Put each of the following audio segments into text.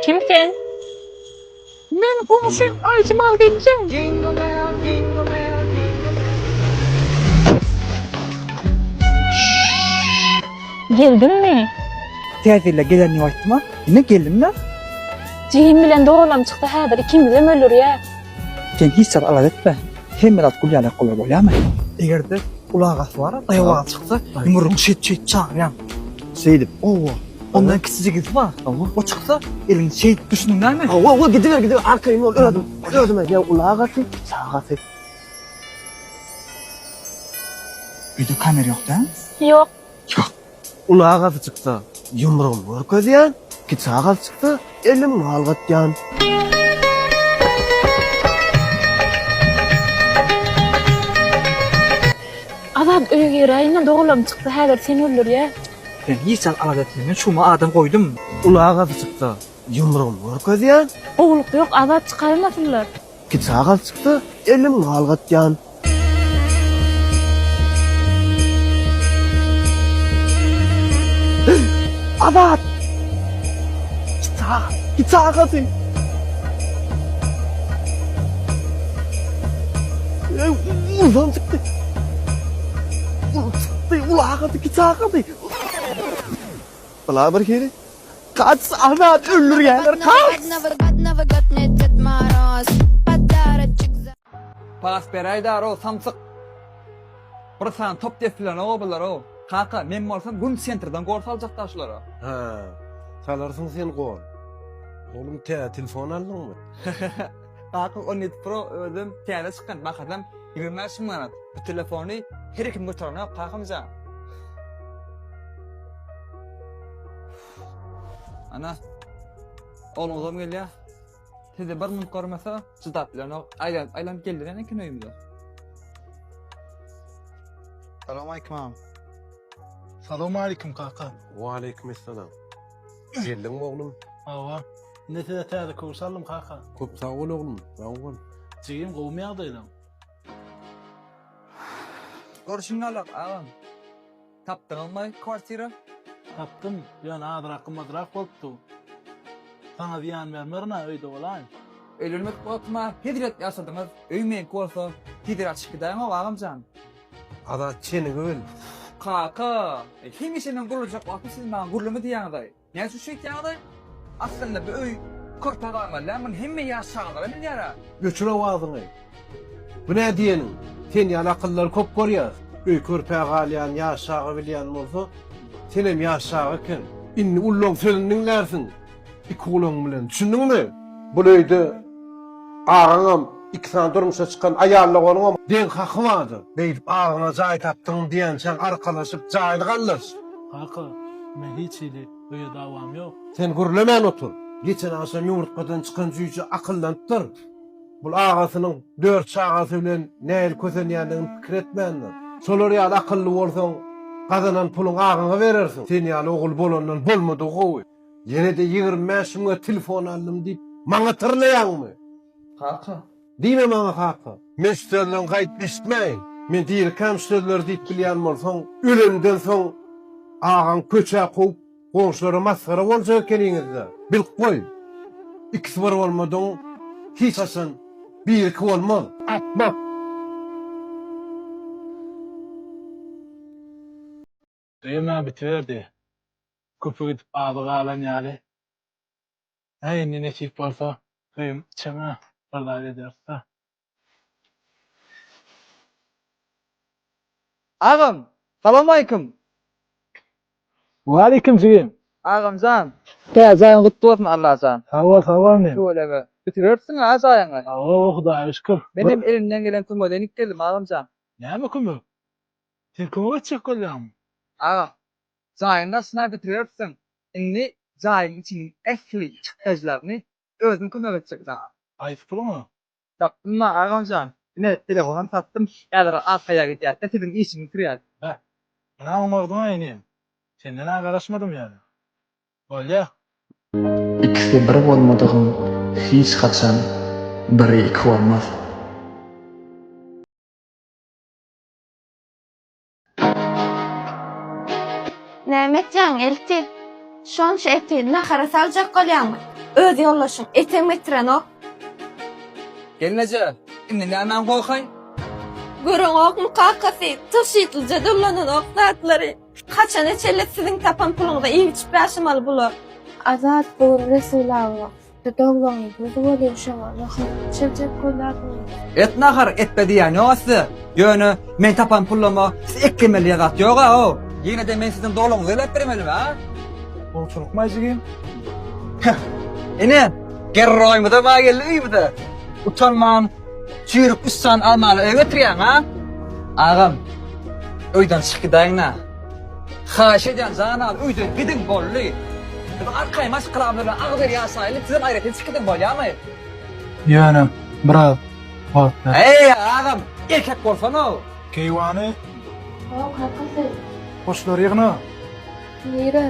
Kim sen? Men goňşyň Aýjemal gelin. Geldiňmi? Täzele gelen diýip aýtma. Ine geldim-le. Jigim bilen doganlarym çyksa häzir ikimiz hem öldürýär. Sen hiç zat alada etme. Hemme zat gül ýaly gowy bolýamy? Egerde ulagasy bar, daýawaga çyksa, ýumrugyny şeýt şeýt çagyryam. Şeýdip. Owa. Ondan kiçijigisi bar. Owa. O çyksa, elini şeýt düşüniň näme? Owa, owa gidiber, gidiber. Arkaýyn bol özüm. Özüm edýä ulagasy, çagasy. Öýde kamera ýok däl? Ýok. Ýok. Uly agasy çyksa, ýumrugymy görkezýän, kiçi agasy çyksa, elimi galgatýan. Azat öýe giräýiň-de, dogalam çyksa, häzir seni öldürýär. Sen hiç zat alada etme, men şumy adam goýdum. Uly agasy çyksa, ýumrugymy görkezýän. Gowulyk ýok, Azat, çykarymasynlar. Iki çagal çyksa, elim galgatýan. Azat! Iki çagal, iki çagasy. Ey, ulan çykdy. Ulan çykdy, ulan çykdy, iki çagasy. Bula bir hili, Kaç azat öldürýäler Pas beräý daro samsyk. Bir sany top depilenok bularoo. Kaka men bolsam gün sentrden gol saljakda şulara. Hä. Salarsyň sen gol. Oglum tä telefon aldyňmy? Kakam on ýedi pro özüm täze çykan bahasam ýigrimi bäş müň manat. Bu telefony her kim göterenok kakamjan. Ana. Ogluňyzam gelýär. Sizi bir minut görmese çydap bilenok. Aýlan, aýlan geldi näme eken öýümde. Salam aýkym. Salam aýkym kaka. Wa aýkym salam. Geldiň oglum. Hawa. Indi size täze köwüş aldym kaka. Köp sag bol oglum. Sag bol. Jigim gowumy ýagdaýlaň? Görşüň galak agam. Tapdyňyzmy kwartira? Tapdym, ýöne azrak gymmadrak bolupdy. Saňa zyýan bermerin-ä, öýde bolaýyn. Öýlenmek bolupmy, hezret ýaşadyňyz, öý meňki bolsa, hezir açyp gidäýoňok agam jan. Azat çenigi bil. Kaka, hemişe men gurlajak wagty siz maňa gurlama diýýäňiz-aý. Näme üçin şeýtýäňiz-aý? Aslynda bu öý körpe galmaly-a, muny hemme ýaş çagalar hem bilýär-ä. Öçür owazyňy. Bu nä diýeniň? Sen ýaly akyllylary köp görýäs. Öý körpä galýan ýaş çaga bilýän bolsa, senem ýaş çaga eken. Indi ullaň sözüni diňlärsiň. Iki gulaň bilen. Düşündiňmi? Bul öýde agaňam, iki sany durmuşa çykan aýallyk onuňam deň haky bardyr. Beýdip agaňa jaý tapdyň diýençäň arkalaşyp jaýyny gallaş. Kaka, men hiç hili öýe dawam ýok. Sen gürlemän otur. Geçen agşam ýumurtgadan çykan jüýje akyllanypdyr. Bul agasynyň dört çagasy bilen nähili kösenýändigini pikir etmändir. Şolar ýaly akylly bolsaň, gazanan puluňy agaňa berersiň. Sen ýaly ogul bolandan bolmadygy gowy. Ýene-de ýigrimi bäş müňe telefon aldym diýip, maňa tyrnaýaňmy? Kaka. Diýme maňa kaka. Men şu sözleň gaýdyp eşitmäýin. Men dirikäm şu sözleri diýip bilýän bolsaň, ölemden soň agaň köçä kowup, goňşulara masgara boljak ekeniňiz-dä. Bilip goý. Ikisi bir bolmadygyň hiç haçan biri iki bolmaz. Akmak! Düýem-ä bitiberdi. Köpi gidip azy galan ýaly. Hä, indi nesip bolsa, düýem içem-ä, bir zat ederis-dä. Agam, salamaýkim! Waleýkim jigim! Agam jan, täze jaýyň gutly bolsun Alla jan! Sag bol, sag bol inim! Tüweleme, bitiberipsiň-ä jaýyňy! Hawa, Hudaýa şükür! Menem elimden gelen kömege deňik geldim agam jan! Näme kömek? Sen kime geçjek bolýaň? Agam, jaýyň daşyna bitiberipsiň, indi jaýyň içiniň ähli çykdajylaryny özüm kömek etjek saňa. Gaýsy puluňa? Tapdym-la, agamjan. Ine, telefonam satdym, häzir arkaýa gidýäs-de, siziň işiňi bitirýäs. Beh, ynha oňardyň-a inim. Senden-ä garaşmadym ýaly. Bolýa. Ikisi bir bolmadygyň hiç haçan biri iki bolmaz. Näme etýäň, Elti? Şonça eti nahara saljak bolýaňmy? Öz ýoldaşyň etem getirenok. Gelneje, indi nämäni goýhaý? Göreňokmy, kakasy, tygşytlyja dollananok zatlary. Haçana çenli siziň tapan puluňyza iýip-içip ýaşamaly bular? Azat, bu gün Resul aga Et nahar etbe diýýän ýok-a size. Ýöne men tapan pullama siz et ýemeli diýen zat ýok-a-ow. Ýene-de men siziň doluňyzy öläp bermelimi-a? Gowçylykma jigim. Heh, ine, gerroýymyzam-a geldi öýümize. Utanman, Çüýrük üç sany almaly öýe getirýäň, a? Agam, öýden çyk gidäýiň-ä. Haýyş edýän janam, öýden gidiň, boldy. Biz arkaýyn maşgalamyz bilen agzybir ýaşaýyly, sizem aýratyn çyk gidiň, bolýamy? Ýöne, biraz wagt ber. Äý, agam, erkek bolsan-ow! Keýwany. Hawa, kaka, sen. Goşlary ýygna. Nirä?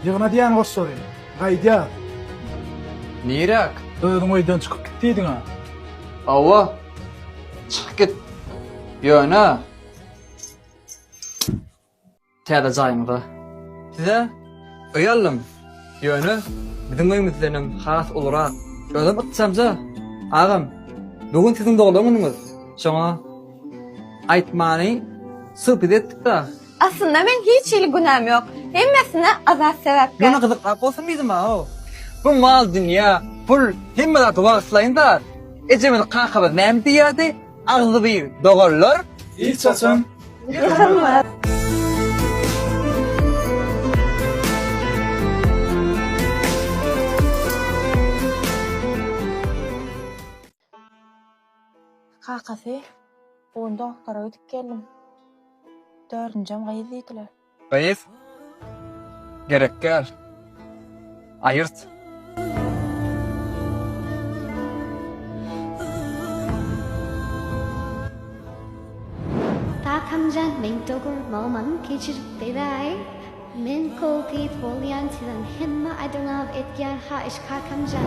Ýygna diýýän goşlary. Gaýdýas. Niräk? Özüň öýden çykyp git diýdiň-ä. Hawa, çykyp git. Ýöne täze jaýyňda size öý aldym. Ýöne biziň öýümizdenem has ulurak. Özem ykjamja. Agam, bu gün siziň doglan günüňiz. Şoňa aýtmany söhbet etdik-de. Aslynda meň hiç hili günäm ýok. Hemmesine Azat sebäpkär. Ýöne gyzykrak bolsun diýdim-aw. Bu mal-dünýä, pul hemme zat wagtlaýyn zat. Ejemiz, kakamyz näme diýýärdi? Agzybir doganlar hiç haçan ýykylmaz. Kakasy, Bu gün dogtora gidip geldim. Dördünjem gyz diýdiler. Gyz, Gerek däl. Aýyrt. Kakamjan men dogurmagymam kecirip beräý men kol gyz bolýan sizem hemme adyňaw etýän haýyş kakamjan.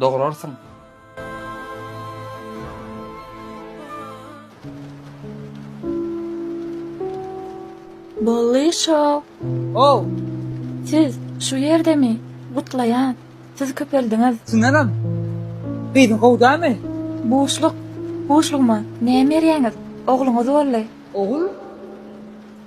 Dograrsyň. Bolly show. Ow! Siz şu ýerdemi? Gutlaýan. Siz köpeldiňiz. Tünenem. Gyzyň gowy dämi? Buşluk. Buşlugyma näme berýäňiz? Ogluňyz bolly. Ogul?